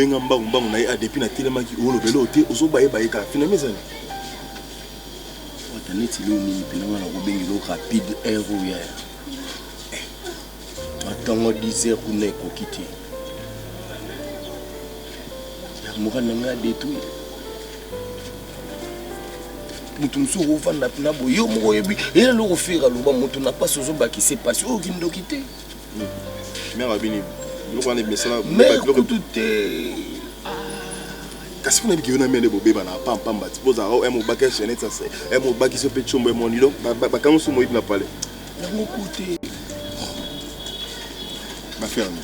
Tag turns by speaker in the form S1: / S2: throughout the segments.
S1: obenga mbangu mbangu na ye a ah, depuis natelemaki olobela oyo te ozobayebaye kaka finami ezali wata
S2: neti leo nini mpena wana kobengela rapide air oyo ya eh, Matongo dix heures kuna ekoki te. Ya mura na ngai adetruire. Moto mosusu okovanda kuna boye yo moko oyebi ye lelo kofera loba moto na mpasi ozobakise mpasi oyo kindoki te. Hmm.
S1: Mère abini biloko wana ebimesala mère kutu te. kasi mpo nayebi kiyona mende bobeba na apa mpamba ti bozalaka o mobaki ya chainete sase mobaki so mpe combo emoni donc bakango so moyibi na pale yango kote baferme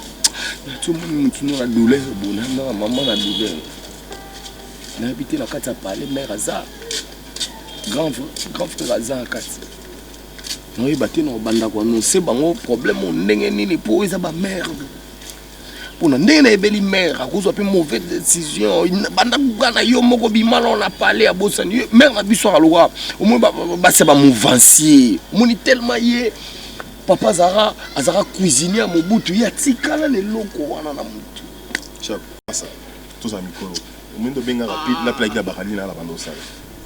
S1: natomoni
S2: motu na douleur bonanga mama na douleur nayebi te na kati ya pale mare aza grand frère aza na kati naoyeba te na obanda koanonse bango problème ndenge nini mpo eza bamare pona ndenge na ebeli mère akozwa pe mauvaise décision banda kokana yo moko bima na na palais ya bosani mère na biso aloka omoni basi ba mouvancier omoni tellement ye papa azaka azaka cuisinier ya mobutu ye atikala na eloko wana na motu
S1: tozala mikolo omoni tobengaka na plaki na bakali na na banda osala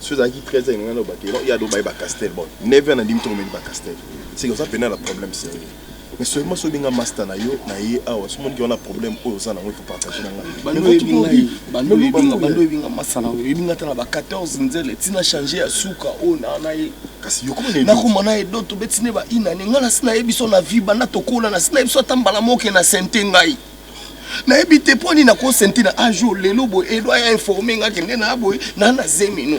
S1: soki ezalaki 13 heures ngai na obakela ya dobaye ba castel bon 9 heures na ndimi tokomeli ba castel seke oza pena na problème sérieux Mais seulement soki nga master na yo na ye awa soki moni ke wana problème oyo oza nango faut partager na nga bando oyebi ngai
S2: bando oyebi nga bando oyebi nga master na yo oyebi nga tala ba 14 nzele tina change ya suka oyo na na ye kasi yo komona na
S1: koma na edo to
S2: beti ne ba ina ne ngala sina ye biso na vie banda to kola na sina ye biso ata mbala moke na sente ngai nayebi te mpo nini nakosenti na ajour lelo boye edo aya informe nga kende na boye na na zemi no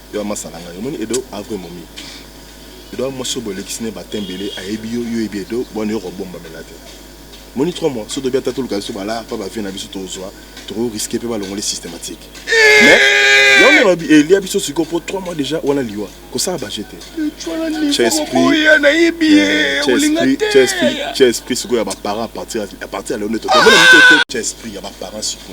S1: Yo amasa nanga yo moni edo a vrai momi edo a mwasi oyo bolekisi ne ba temps ebele ayebi yo yo oyebi edo bwana yo kobomba mela te moni 3 mois soto bia tatoluka biso bala pa ba vie na biso tozwa toko risque pe balongole systematique mais yo mona bi elia biso siko po 3 mois deja wana liwa kosala ba jete
S2: chesprit chesprit
S1: chesprit siko ya ba parents à partir à partir ya lelo nde totomona mito chesprit ya ba parents siko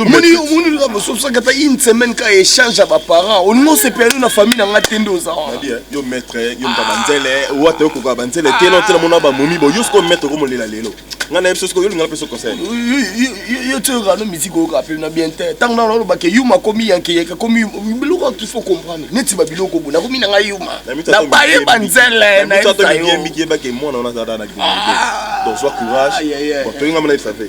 S2: omoni omoni loka bososaki ata une semaine ka échange ya baparent olingi osepelani na famille na ngai te nde oza wana eh yo maître eh,
S1: yo moto ya banzele ah. wata yo kokoka banzele te na otela mona bamomi bo yo sikoyo maître okomolela lelo ngai na yebiso sikoyo olingala mpeso conseil yo
S2: ti oyoka no miziki oyoka mpe na bien te ntango nana oloba ke yuma akomi yankeyeke akomi biloko il faut comprendre neti babiloko bo nakomi na ngai yuma na baye banzele na yebisa yo
S1: mwana wana azalaka na donc sois courage toyinga mona esafe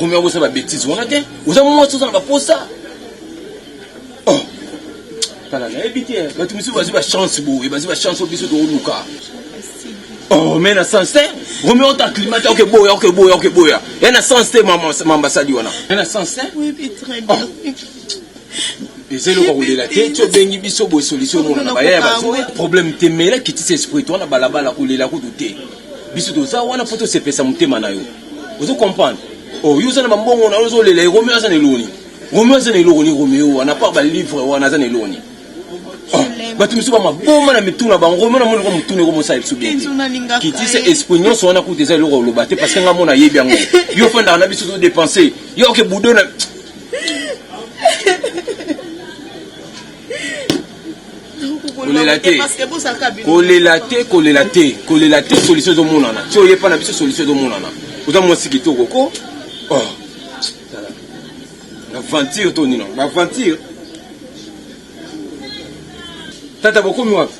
S2: Roméo bosa ba bêtises wana te. Oza mwasi oza na baposa. Oh. Kala na yebi te. Bato mosusu bazwi ba chance boye, bazwi ba chance oyo biso tokoluka. Oh, mais na sens te. Roméo ta climat ta okeboya, okeboya, okeboya. Ya na sens te mama mamba sali wana. Ya na sens te. Oui,
S3: oui, très
S2: bien. Oh. eza eloko kolela te ti obengi biso boye solution omona na baya ya bazoya problème te mela kitisa esprit to wana balabala kolela kutu te biso toza wana mpo tosepesa motema na yo ozo comprendre oh, yo oza na bambongo na yo ozolela romeo aza na eloni romeo aza na eloko ni romeo wana par balivre wana aza na eloni oh, bato misusu bamaboma na mitu na bango romeo namoni ko motuna eko mosala biso bien te kitisa esprit nyonso wana kuta eza eloko oloba te parce que nga mona ayebi yango yo ofandaka na biso todepense yo oke budo na kolela te kolela te kolela te kolela te solution ezomonana ti oye mpa na biso solution ezomonana oza mwasi kitoko ko oh. aventure to nino baaventure tata bokomi wapi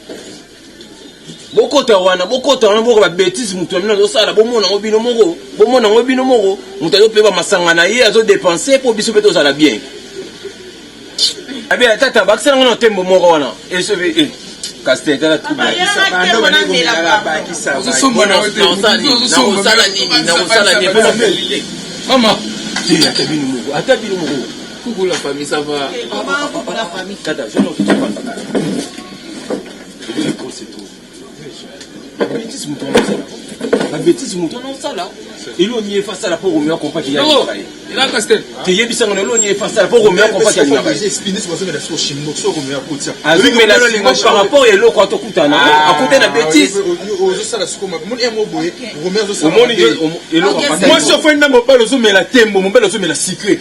S2: bokota wana bokota wana boka babetise moto ya bino azosala bomona yango bino moko bomona yango bino moko moto azopeba masanga na ye azodepense mpo biso mpe tozala bien abe atata abakisela ngo na tembo moko wana esobe eh, kastel tala troubeosala nini nakosala nini mpo mama ata bino moko ata bino moko kukula famille
S3: sava kata
S2: babetise moto wana osala babetise moto wana osala elo nini efa asala mpo romeo akompaki
S3: teyebisanga na elo nini
S2: efa asala mpo romeo akompaki
S1: azomela lingo
S2: par rapport ya eloko atokutana akuta na betise omoni eloko mwasi ofandi na mobali ozomela tembo mobali ozomela sikre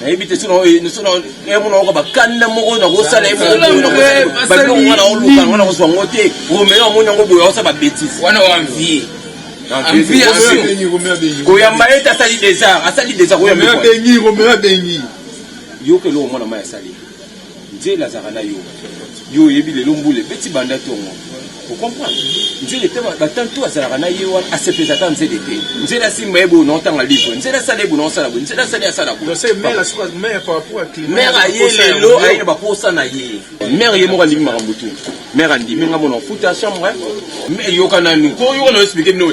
S2: nayebi te sona yamona oyoka bakanda moko nakosala yebiloko wana oluka yango nakozwa yango te romeo amoni yango boye aosa babetise wana wanvie koyamba ye te asali desar asali desar koyamba yoka eloko mwana mai asali Nzele azalaka na yo yo oyebi lelo mbula ebeti banda tongo o comprendre nzele pe ba temps tout azalaka na ye wana asepelisa ata nzele te nzele asimba ye boye na otanga livre nzele asala ye boye na osala boye nzele asali asala boye
S1: mère aye lelo
S2: aye na baposa na ye mère ye moko andimi makambo tout mère andimi nga mona futa chambre yoka nanu ko yoka na explique bino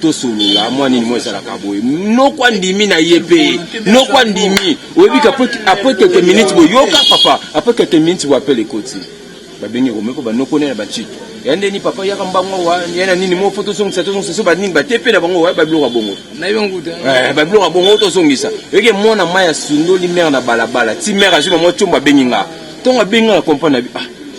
S2: tosolola mwa nini mwa ezalaka boye noko andimi na ye mpe noko andimi oyebi ke apres quelques minutes boyoka papa apres quelques minutes bo apele ekoti babengi komeko banoko nene bacito ya ndeni papa yaka mbango wa ya na nini moko tozongisa tozongisa so banini bate mpe na bango wa babiloko ya bongo eh,
S3: babiloko ya bongo
S2: tozongisa yoke mwana mai asundoli mere na balabala ti mere azwi na mwa tiombo abengi nga ntongo abengi nga na comprendre na bi ah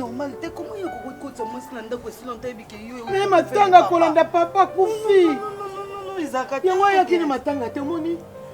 S4: normal te comment yo kokoki kotya mwasi na ndako esila nta yebike yo me matanga
S5: kolanda papa kufi
S4: yango ayaki na matanga
S5: te omoni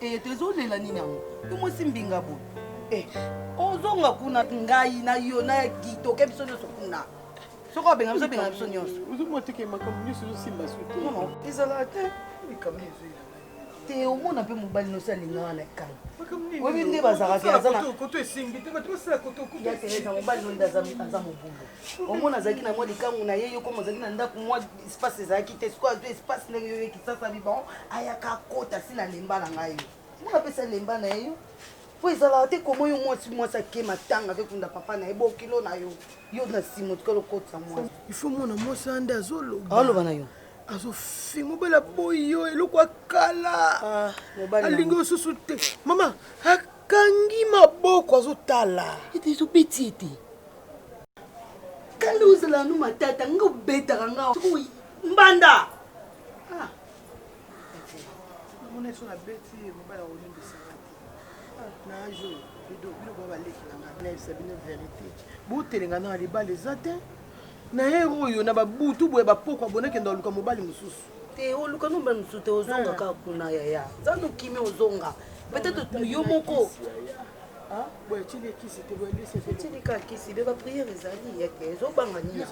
S4: Eh, tozolela nini yango yo mwasi mbinga boye eh, ozonga kuna ngai na yo na kitoke biso nyonso kuna soki obenga biso benga biso nyonso ozomoteke makambo
S5: nyonso ezosimba su te ezalaka te
S4: likambo ezoya te omona mpe mobali nosi alingaka na ekala oyebi nde bazalaka aza na koto esimbi te bato basala koto kutu mobali nonde aza mobulu omona azalaki na mwa likangu na ye yoko mozalaki na ndako mwa espace ezalaki te sikoyo azwi espace ndenge yo ekisasa biban ayaka akota si na lemba na ngai yo mona apesa lemba na ye yo po ezalaka te koma yo mwasi mwasi ake matanga akekunda papa na ye bokilo na yo yo na nsima otikala okotisa mwasi ifo mona mwasi
S5: ande azoloba aloba na yo
S4: azofi
S5: mobali aboyi yo eloko akala ah, alingi osusu te mama Kangi maboko azo tala. Ete ezo beti ye
S4: te. Kanda ozala no matata nga obetaka nga sikoyo mbanda. Ah.
S5: Mona esso na beti ye mobala olimbisa nga te. Ah, na age oyo edo bino ba baleki na nga na yebisa bino verite. Botelenga na libala eza te. Na hero oyo na ba butu boye ba pokwa bona kenda luka mobali mosusu. te oluka nomba
S4: mosusu te ozonga kaka kuna yaya nzambe okimi ozonga peut-être yo moko
S5: botilikaka kisi
S4: be bapriere ezali yeke ezobanga nini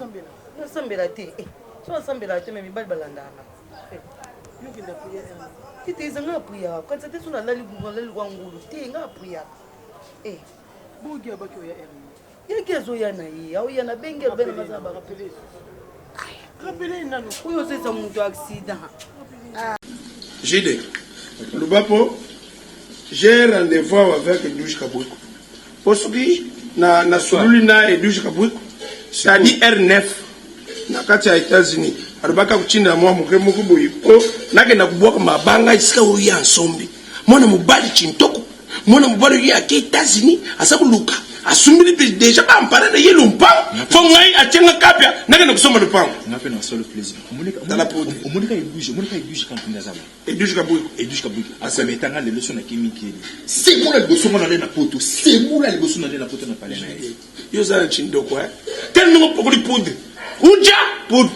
S4: nasambela te eh, so nasambela te me mibali balandaka
S5: eh. tete eza nga
S4: apriyaka kanisa te so nalali nalali kwa ngulu te nga apriyaka eh.
S5: bogi abaki oya
S4: yaki azoya
S3: na ye aoya na bengi abena baza barapele rapele nano oyo oza eza moto accident ah. jide loba mpo j'ai rendez-vous avec edouge kabwiko mpo soki na, na sololi na edouge kabwiko sadi r9 na kati ya états-unis alobaki akotindela mwa moke moko boye mpo nakenda kobwaka mabanga esika oyo ya nsombi mwana mobali chintoko mwana mobali oyo ake etats-unis aza koluka asumbili mpe deja baampara na ye lompango mpo ngai atye nga kapia nakenda kosomba lopango sekola liboso
S1: nga nale na poto
S3: sekola
S1: liboso nale na
S3: poto na palais
S1: na ye yo oza na
S3: chindoko eh? tele ndenge opokoli poudre uja poudre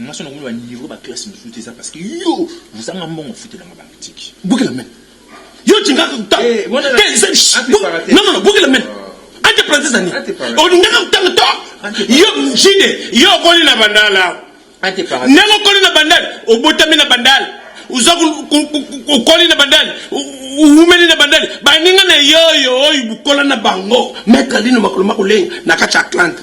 S6: Nga soki nakomi ba niveau ba classe mususu te eza parce que yo ozanga mbongo ofutela nga ba articles. Bukila meno. Yo olingaka kotanga te eza likambo. Non non bukila meno. Entre parenthèses na nini? Olingaka kotanga to yo JD yo okoli na bandal awa. Ndenge okoli na bandal obotami na bandal oza okoli na bandal owumeli na bandal baninga na yo oyo oyo bokola na bango maitre alino makolo makolenga na kati ya Atlanta.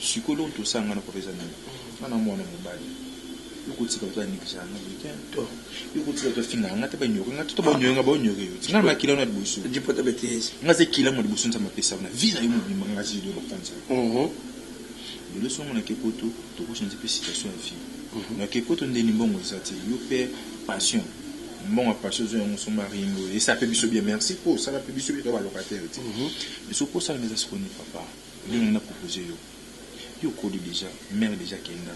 S6: Sikoyo eloko tosala nga na papa eza nini? Nga na muana mobali yo kotika batu ba negligea nga boye te hein yo kotika batu ba fingaka nga te ba ignorer nga te to ba ignorer nga ba ignorer yo ti nga na makila wana liboso nga na se kila mua liboso nzambe apesa yo na vie na yo mobimba nga na se liboso ba fandisa yo lelo soki nga na ke poto toko changer pe situation ya vie na ke poto ndeni mbongo eza te yo pe passion mbongo ya passion ozua yango osomba ring oyo esala pe biso bien merci po osala pe biso bien toza ba locataire ti mais soki okosa nga eza sikoyo nini papa. Yo nani apropose yo yo okoli deja mère deja kenda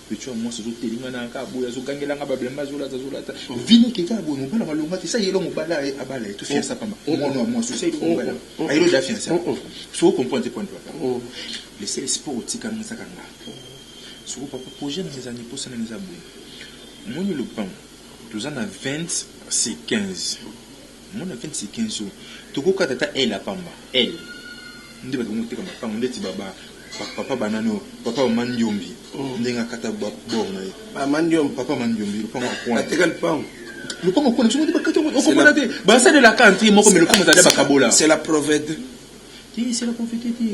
S6: petit oyo ya muasi azo telima nanga kaka boye azo gangela nga ba blemba azo lata azo lata vie neke kaka boye mobali ya malonga te sa yelo mobala ye abala ye to fiansa pamba muana oyo ya muasi osa yeli mobali yango ayeli oza fiansa soki o comprendre te point papa le seul espoir otika nga eza kaka nga soko papa projet nanga eza nini posa nanga eza boye omoni lopango toza na 20 c'est 15. Mona Felix Kenzo toko kata ata aile ya pamba aile nde batu bango teka makangu ndeti ba ba papa banani oyo papa ba mandiombi ndenge akata ba bord naye ba mandiombi papa mandiombi lopango ya coin ateka lopango lopango ya coin biso nde bakati yango oko mona te ba sale la kante ye moko mais lopango ezali ba kabola c'est la provete te c'est la provete te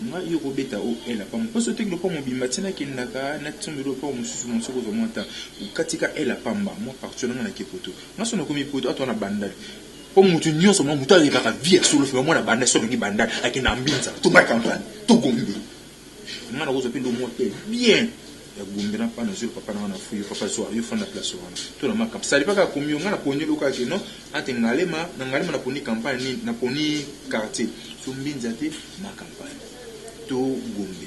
S6: nga yo ko beta o aile ya pamba po soki oteki lopango mobimba ti na kendaka na ti sombeli lopango mususu mona soki ozua mua temps okati ka aile ya pamba mua parti wana nga na ke poto Nga soki nakomi poto ata wana bandal po mutu nionso mwa mutu ayebaka vie ya solo fimba mwana bandal soki alongi bandal akenda ambinza to mara campagne to gombe nga nakozwa pe lomwa pe bien ya gombe na pana zulu papa na nga na fui yo papa zua yo fanda place wana to na mwa camp salipa kaka komi yo nga na poni eloko ake non ante ngalema na ngalema na poni campagne nini na poni quartier so mbinza te mwa campagne to gombe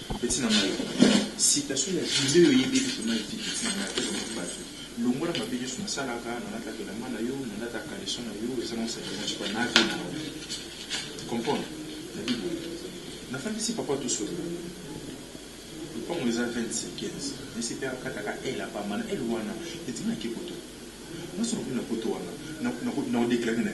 S6: Petit na ngai citation ya billet oyo oyebi ete vraiment eleki petit na ngai ata eleki batu longola mabe nionso nasalaka nalataka elamba na yo nalataka caleçon na yo eza mwa sac na tshika na vie na ngai tu comprends nayebi boye nafandisi papa tosolola lopango eza 20 15 nayesi pe akataka aile ya pamba na aile wana edima nake poto nasoloki na poto wana na ko na ko declare na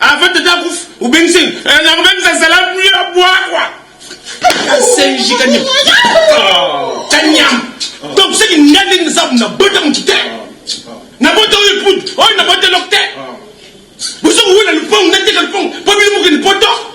S6: Avant tata akufa
S3: obengisi eh, na kobengisa salamu ya bwakwa asenji kanyam kanyam donc soki nga ndenge nasabu na bota motu te na bota oyo epudu oyo na bota eloko te bosoki wela lupangu nateka lupangu mpo bino mokende poto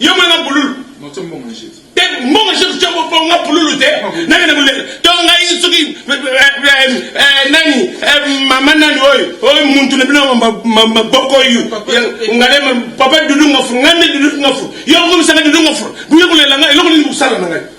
S3: Yo mwana nga pululu.
S6: Non, tu mbongo je. Te mbongo je
S3: tu mbongo nga pululu te. Nani na mulele. To nga isuki nani mama nani oyo. Oyo muntu na bino ma boko yu. Ngale papa dudu nga fu ngane dudu nga fu. Yo ko misanga dudu nga fu. Buye kulela nga eloko nini kusala na ngai.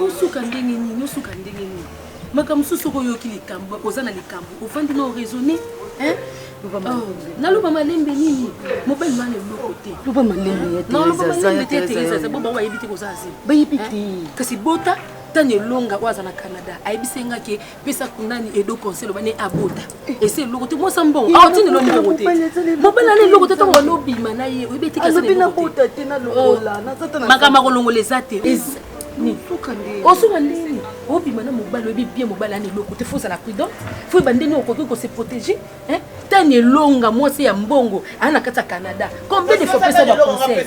S7: osuka ndenge nini osuka ndenge nini makambo mosusu oko oyoki likambo oza na likambo ofandi na oraisonne oh, naloba malembe nini mobali wana eloko te loba malembe te kasi bota tani elonga oyo aza na canada ayebisi nga ke pesa kunani edo conseil loba ne abota ese eloko te mwasa mbongo awa ntina elo mbongo te mobali ana eloko te ntango wana obima na ye oyebi etikasmakambo akolongola eza te osuka ndeni obima na mobali oyebi bien mobali ana eloko te fo ozala prudent fo yeba ndeni okoki kose protéger tani elonga mwasi ya mbongo aa na kati ya canada combien de fois pesa baconseil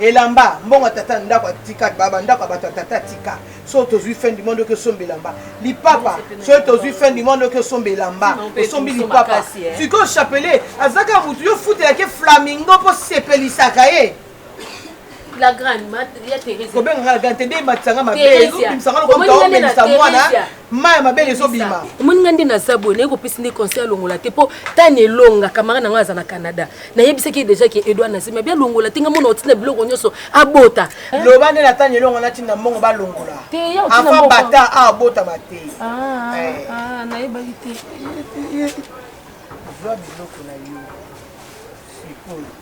S5: Elamba, mbongo ya tata na ndako atika, ba ba ndako ya bato ya tata atika. Soki tozwi fin du monde oki osomba elamba. Lipapa, soki tozwi fin du monde oki osomba elamba. Osombi lipapa. Sikoyo chapelet azaka mutu yo futelaki flamingo mpo sepelisaka ye. la
S7: grande ma ya Theresia kobenga nga la grande te nde
S5: ematisa nga mabe yo bimisanga lokola mutu aomelisa mwana mai ya mabele ezobima omoni ngai nde naza boye
S7: naye kopesi nde conseil alongola te mpo tani elonga kamara na ngai aza na canada nayebisaki ye déjà ke edouard nazimi abi alongola te ngai mona otina biloko nyonso abota loba nde na tani
S5: elonga natinda mbongo balongola afa
S7: bata ah,
S5: abotama te ah, eh. ah,
S7: nayebaki te zwa
S5: biloko na yo sikoyo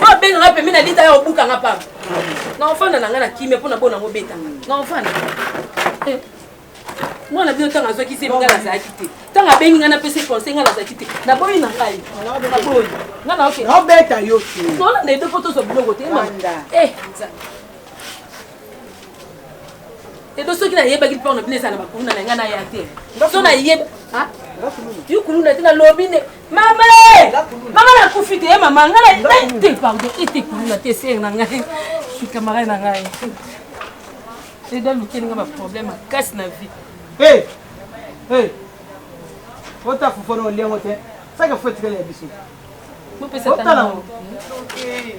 S7: oyo abenga nga pembe na lita ya obuka nga pamba na ofanda na nga na kimia mpo na bona yango beta na ofanda eh. mwana bino ntango azwaki zemi ngai nazalaki te ntango abengi ngai napesi conseil ngai nazalaki te naboyi na ngai naboyi nga naobeta yo te
S5: nolanda ebe mpo
S7: tozwa biloko te eh. edo soki nayebaki mpo na bino ezala na bakuluna na ngai naya te so nayeba ah? yo kuluna te nalobi nde Mama eh! Mama na kufi te, eh, mama nga na te pardon, ete kuluna te sœur na ngai. Ki camarade na ngai. C'est dans lequel nga ba problème à casse na vie.
S5: Hey! Hey! Ota fufu no lengo te. Saka fufu tikele ya biso. Mo pesa
S7: tala. Okay.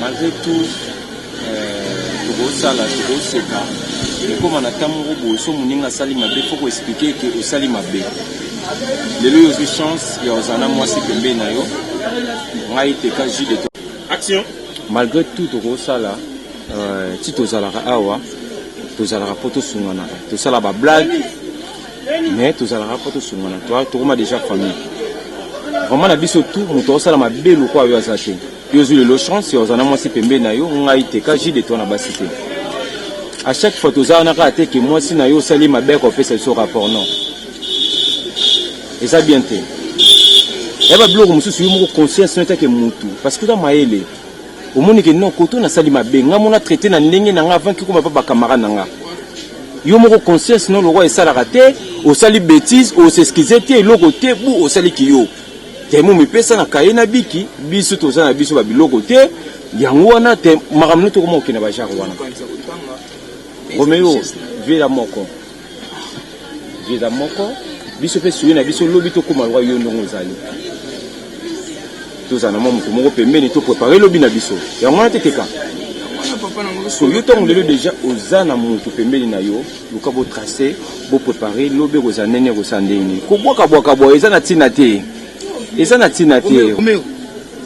S5: Malgre
S8: tout euh, tokosala tokoseka ekoma na ntango moko boye so moninga asali mabe fo koexplike eke osali mabe lelo yo ozwi chance ya ozala na mwasi pembeni na yo ngai teka jus de action malgre tout tokosala euh, ti tozalaka awa tozalaka mpo tosunganaka tosala bablague mais tozalaka mpo tosungana toi tokoma déjà famille vraiment na biso tout moto aosala mabe lokola yo aza te yo ozwi lelo chance oza na mwasi pembeni na yo ngai te ka jide toi na basi te à chaque fois toza wana kaka te ke mwasi na yo osali mabe ya kopesa biso rapport non eza bien te yaba biloko mosusu yo moko conscience no etake motu parce que oza mayele omoni ke non koto nasali mabe nga mona traite na ndenge na nga avant ki koma pa ba camarade na nga yo moko conscience no lokola esalaka te osali betise osexcuse te eloko te bu osali kiyo temo mipesa na kaye na biki biso toza na biso ba biloko te yango wana te makambo no tokoma kokenda ba genre wana romeo vela moko Visa moko biso mpe suye na biso lobi tokoma lokola yo ndongo ozali tozala na mwa moto moko pembeni to prepare lobi na biso yango wana teteka so yo ntango lelo deja oza na moto pembeni na yo luka botrace boprepare lobi ekozala ndenge ekosala ndenge kobwakabwaka boye eza na ntina te eza na ntina
S2: te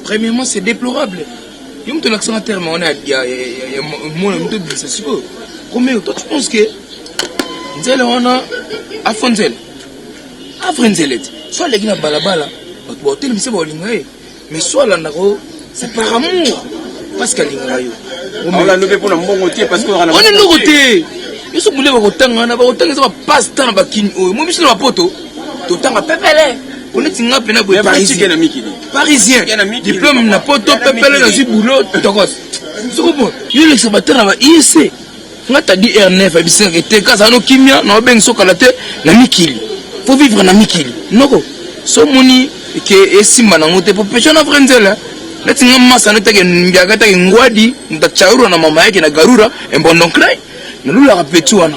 S2: premièrement c'est déplorable Yo mtu lakisanga terme wana ya ya ya mwana mtu bisa siko. Kumbe toi tu penses que nzela wana afo nzela. Afo nzela ti. Soit leki na balabala bato baotelemisa baolinga ye mais soit alandako c'est par amour parce qu'alingaka yo. Olanda mpe mpo na
S8: mbongo te parce que wana ndoko te.
S2: Yo soki bule bakotanga wana bakotanga eza ba passe temps na bakini oyo mo biso na bapoto totanga pepele oneti nga mpena boye parisien diplome na poto pepele nazwi boulot tokos soko bo yolekisa batala ba iec nga tadi r9 abisaka te kazala no kimia na obengi sokala te na mikili fo vivre na mikili noko so moni ke esimba nango te po pesha na vrai nzela neti nga masa notake mbiaka take ngwadi ntachaurwa na mama yake na garura embondo nkrai nalulaka peti wana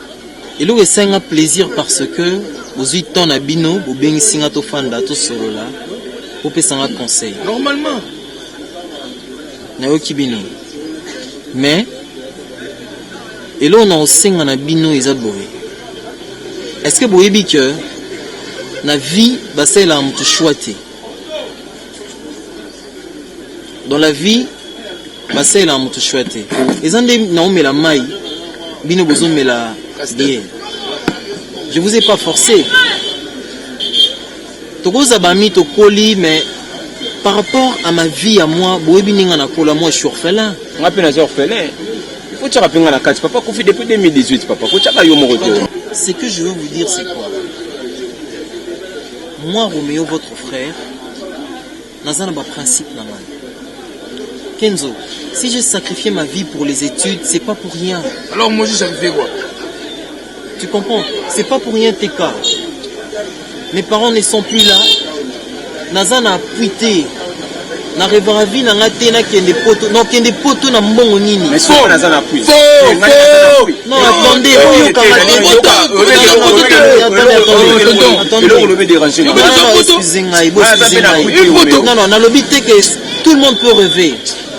S9: Eloko esali nga plaisir parce que bozui temps na bino bobengisi nga tofanda tosolola bopesa nga conseil normalement nayoki bino mais eloko na kosenga na bino eza boye est ce que boyebi que na vie basalelaka motu choix te dans la vie basalelaka moto shwa te eza nde naomela mai bino bozomela bien je vous ai pas forcé tokoza bami tokoli mais par rapport à ma vie à moi boyebi ndenge nakola moi je suis orphelin nga mpe naza
S8: orphelin kotyaka mpe nga na kati papa kufi depuis 2018 papa kotyaka
S9: yo
S8: moko
S9: te ce que
S8: je veux
S9: vous dire
S8: c'est quoi
S9: moi roméo votre frère Naza na ba principe na ngai. Kenzo, si j'ai sacrifié ma vie pour les études, c'est pas pour rien. Alors moi j'ai sacrifié
S2: quoi Tu
S9: comprends C'est pas pour rien tes cas. Mes parents ne sont plus là. Naza na appui te. Na revara vie na nga te na kende poto. Non, kende poto na mbongo nini Mais soki naza na appui. Faux,
S8: Ngai naza na faux. appui.
S9: nalobi te ke tout le monde peut reve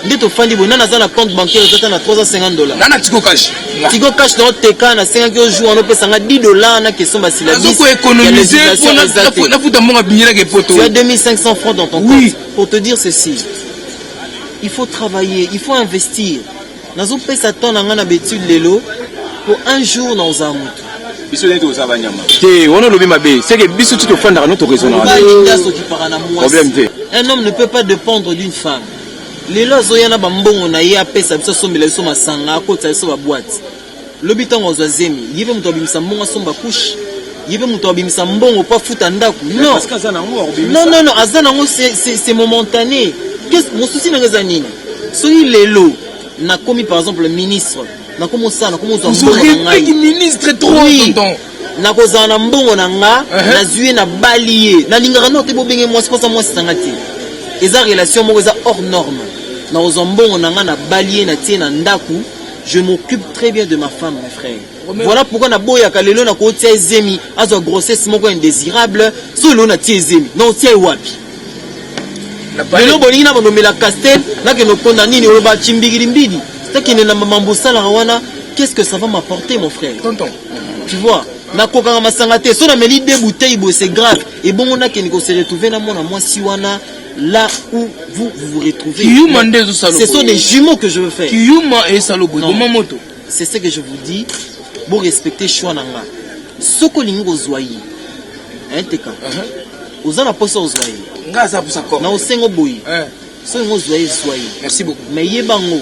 S9: nde tofandi boye nani aza na compte bancaire ezata na 350 dollar nana tiko cash
S2: tiko cash nao
S9: teka nasengaki ojour wana opesa nga 10 dollar na question basilabisafuta mbonga binyelaka epoto ya 2500 francs dans ton compte pour te dire ceci il faut travailler il faut investir Nazo pesa temps na nga na betude lelo po un jour na oza mutu. Biso nde toza ba
S8: nyama. Te wana lobi mabe, c'est que biso tu tofandaka no to raisonner.
S9: Ba linda so kipaka na mwasi. Problème te. Un homme ne peut pas dépendre d'une femme. Lelo azoya na ba mbongo na ye apesa biso sombela biso masanga, akotisa biso ba boîte. Lobi tango azwa zemi, ye pe mutu abimisa mbongo asomba couche? Ye pe mutu abimisa mbongo po afuta ndaku? Non. Parce que aza na ngo akobimisa. Non non non, aza na ngo c'est momentané. Qu'est-ce mosusi na nga eza nini? Soki lelo na komi par exemple ministre, na komi osala, na komi ozwa mbongo na ngai. Ozo ministre trop oui.
S2: tonton. Na kozala na
S9: mbongo na nga, uh -huh. na zuye na bali ye. Na lingaka no te bo benge mwasi, posa mwasi sanga te. Eza relation moko eza hors norme. Na kozwa mbongo na nga na bali ye na tie na ndaku. Je m'occupe très bien de ma femme, mes frères. Voilà pourquoi na boya kalelo na ko tia zemi, azo grossesse moko indésirable, so lo na tia zemi. Non, tia wapi? Lelo bolingi na bono mela castel, na ke no konda nini oyo ba chimbigiri mbidi. Ta kende na mambo sala wana, qu'est-ce que ça va m'apporter mon frère? Tonton. Tu
S2: vois?
S9: Na kokanga masanga te, so na meli deux bouteilles, c'est grave. Et bon on a kende ko se retrouver na mwana mwasi wana. là où vous vous, vous retrouvez. Kiyuma nde ezo salo. Ce sont des jumeaux que je veux faire. Kiyuma et salo boy. Boma moto. C'est ce que je vous dis. Bon respecter choix na nga. Soko lingi ko zwa ye. Hein teka. Uh-huh. Oza na posa ozwa ye. Nga za posa ko. Na osengo boy. Hein. Soki ngo zwa ye zwa ye. Merci beaucoup. Mais ye bango.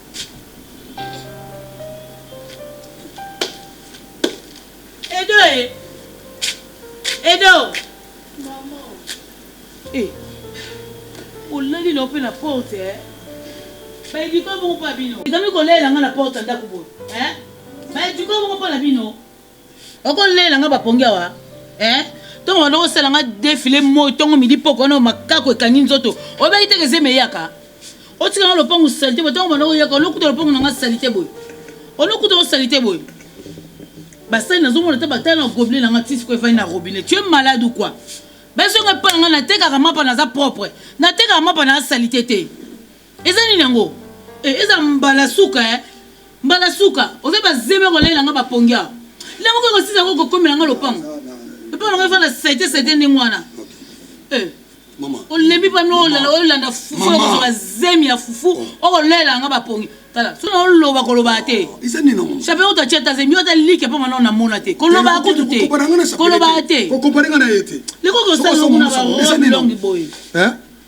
S4: Edo e. Edo. Maman. Eh. Olali na ope na porte eh. Bayebi ko moko pa bino. Ezami kolela nga na porte ndako boye. Eh? Bayebi ko moko pa na bino. Oko lela nga ba pongi awa eh Tongo banda kosala nga defile moi tongo midi poko wana makaku ekangi nzoto obeyi teke zemi eyaka otika nga lopangu salite boye tongo banda koyaka olokuta lopangu na nga salite boye olokuta o salite boye basali nazomona te batala na gobele na nga tisiko efandi na robinet tu es malade ou quoi bazonga epa na nga natekaka mapa naza propre natekaka mapa na salite te Eza nini yango eh, eza mbala suka eh mbala suka oza ba zeme ko lela nga ba pongi awa lango ko sisa ko kokomela nga lopango lopango nga fana sete sete ndenge wana eh mama olembi pa no lala olanda fufu ko ba zemi ya fufu oh. oko lela nga ba pongi tala so na oloba ko loba te oh, eza nini ngo chape o ta cheta zemi o ta like pa mana na mona te ko loba ko tute ko loba te ko ko paranga na yete
S10: le ko ko sa ngo na
S4: ba longi boye eh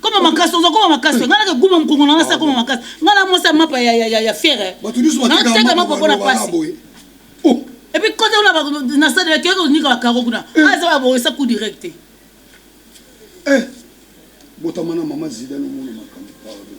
S4: koma
S11: makasi oza koma makasi nga nake guma mokongo na nga sa koma makasi nga na mwasi ya mapa ya, ya, ya, ya fiere nateka
S10: mapa mpo na mpasi epuis kota ola
S11: na stade bakeyaka konika bakaro kuna aza babongisa coup direct te
S10: botama na mama zidane omona makambo pardon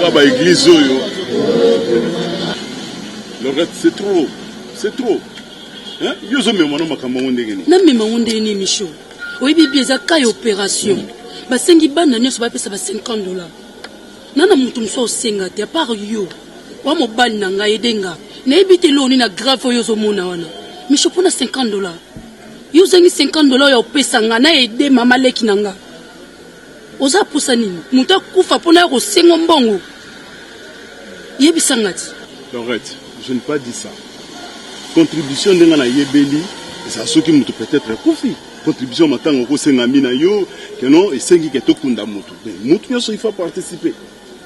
S1: na ba eglise oyo lorette c'est trop c'est trop hein? yo ozomema no makambo yango ndenge nini namema yango ndenge nini micho
S7: oyebi bi eza kai opération basengi bana nyonso bapesa ba 50 dollars N'a na mutu mususu osenga te apart yo oa mobali na nga aide nga nayebi te eloko nini na grave oyo ozomona wana micho mpo na 50 dola yo ozangi 50 dola oyo opesa nga na aide mama leki na nga oza posa nini moto akufa mpo nayo kosengo mbongo yebisa nga ti Lorette,
S1: je ne pas dit ça contribution ndenge nayebeli eza soki moto peut-être akufi Contribution ya matanga okosenga mi na yo que non esengi ke tokunda mutu mais mutu nyonso il faut participer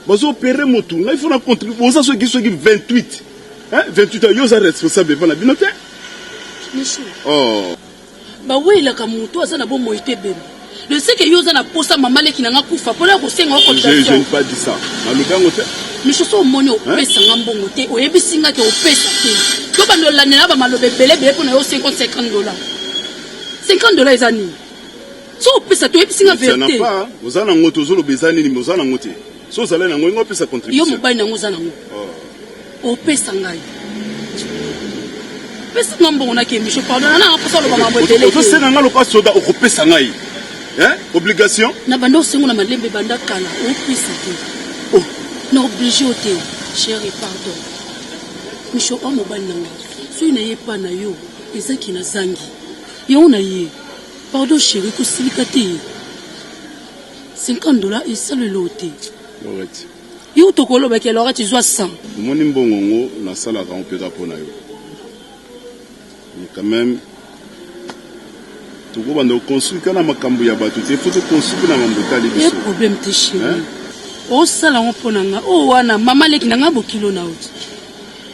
S1: bazo opere mutu ngai faut na contribuer oza soki soki 28 hein 28 ans yo oza responsable epa na bino te Michou,
S7: oh
S1: bawelaka
S7: moto oyo aza na bomoi te ebembe le seke yo oza na posa mama leki na nga kufa mpona ya kosenga yo je je cotisation ne pas dit ça
S1: nalobi yango te miso so omoni
S7: opesa nga mbongo te oyebisi nga te opesa te tobanda olandela bamaloba ebele ebele mpo na yo 50 dola 50 dola eza nini so opesa te oyebisi nga verite oza nango
S1: te ozoloba eza nini me oza nango te so ozali nango ingo opesa contribution yo mobali nango oza nango
S7: oh. opesa ngai pesa nga mbongo nakemiso pardon nana mposa oloba mambo ebele ozosenga ngai lokola soda
S1: okopesa ngai Hein? Obligation? Na banda osengo na
S7: malembe banda kala opesa te. Oh.
S1: Na oblige
S7: yo te. Chérie, pardon. Micho o mobali na nga. Soki na ye pa na yo, eza ki na zangi. Yango na ye. Pardon chérie, kosilika te. 50 dollars esalelo yo te. Lorette.
S1: Yo tokoloba
S7: ke Lorette zwa 100. Omoni mbongo ngo
S1: nasalaka ngo mpeka mpo na yo. Mais quand meme toko banda ko construire kaka na makambu ya batu te, faut to construire pe na mambu etali biso. Eza problème te chérie.
S7: Osala ngo po na nga. Oyo wana mama leki na nga bokilo na yo.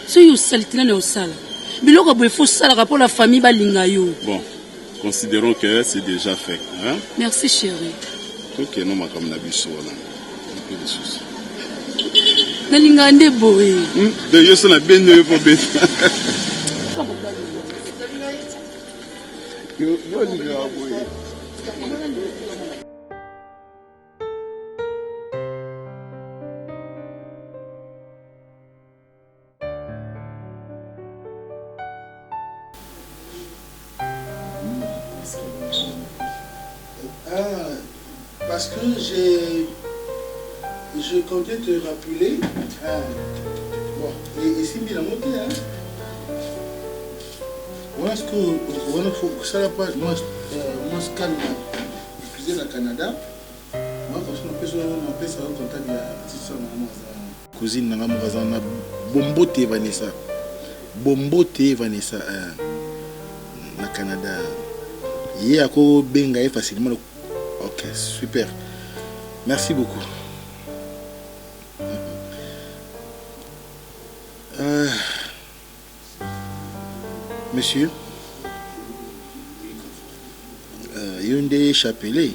S7: Soki osalite nani osala. Biloko boye faut osalaka po na famille balinga yo. Bon,
S1: considerons que c'est déjà fait, hein. Merci chérie.
S7: Tokende
S1: makambu na biso wana.
S7: nalingaka nde boye hmm? de yo so
S1: nabendi oyo mpo beta yo olingaka boye
S10: parce que j'ai je comptais te rappeler ah, bon esimbi nango te wana siko wana kosala pa mwa scanne epuise na canada mwa koso napesa yo contact ya petite soeur na mwa aza Cousine na nga moko aza wana bombote Vanessa bombote Vanessa eh, na Canada ye ako benga ye facilement ok super merci beaucoup ah. monsieur uh, yo nde chapelet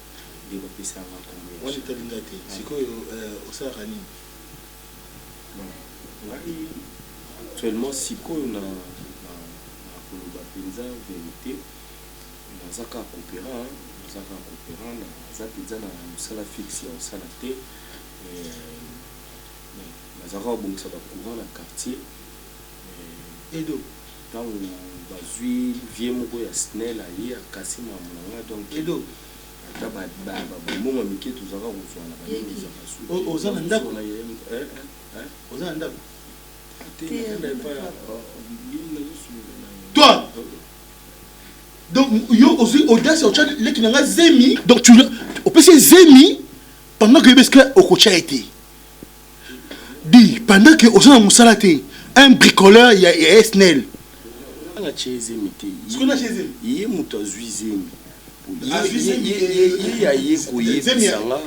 S2: nde bapesi yanga kombo ya Wana etali nga te
S10: sikoyo eh osalaka nini? Bon ngai
S2: actuellement sikoyo na na koloba penza verite naza kaka cooperant hein naza kaka cooperant naza penza na musala fixe ya kosala te eh nazalaka kobongisa ba courant na quartier eh
S10: Edo. Tango
S2: bazui vieux moko ya snel aye akasi makambo na nga donc ata
S10: ba
S2: mbongo ya mike tozalaka kozua na ba nini ezalaka suki oza na ndaku na ye
S10: oza na ndaku te na fanda epa ya bibi nazo solola na ye toi donc yo ozui audace ya otia leki na nga zemi donc tu opesi ye zemi pendant que yo beske okotia ye te dit pendant que oza na musala te un bricoleur ya SNEL nanga
S2: atye zemi te
S10: ye moto azwi
S2: zemi
S10: ye aye koyebisa nga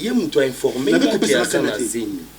S10: ye moto ainforme nga ke aza na zemi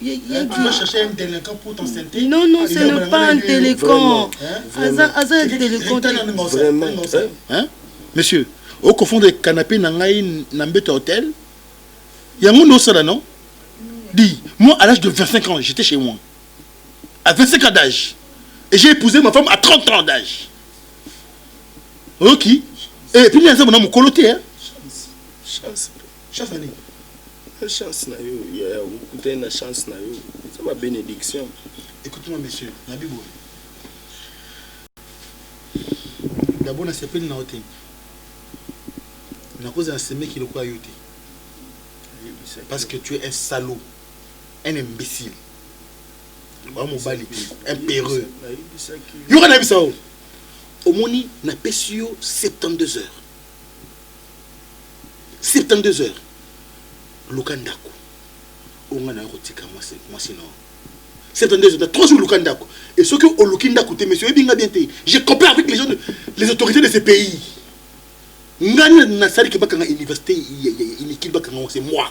S10: Non non ce n'est pas
S4: un telecon aza telecon te
S10: monsieur o confondre canapé na ngai na mbeto ya hotel yango nde osala non dit moi à l'âge de 25 ans j'étais chez moi à 25 ans d'âge et j'ai épousé ma femme à 30 ans d'âge oyoki et puis nde aza mona mokolo te hein
S2: Chance na
S10: nini? Eza chance
S2: na yo yaya okutani na chance na yo eza ba benediction. Ecoute moi monsieur
S10: nabi boye d'abord na sepeli na yo te nako zala na semeki lokola yo te parce que tu es un salaud un imbecile oa mobali te un pereux yoka na yebisa yo omoni na pesi yo 72 heures 72 heures luka ndako onga nayo kotika mwasi mwasi na 72 heures na 3 jours luka ndako et soki oluki ndako te monsieur oyebi nga bien te je compare avec les gens de, les autorités de ce pays ngani nasali ke bakanga université ya inikili bakanga c'est moi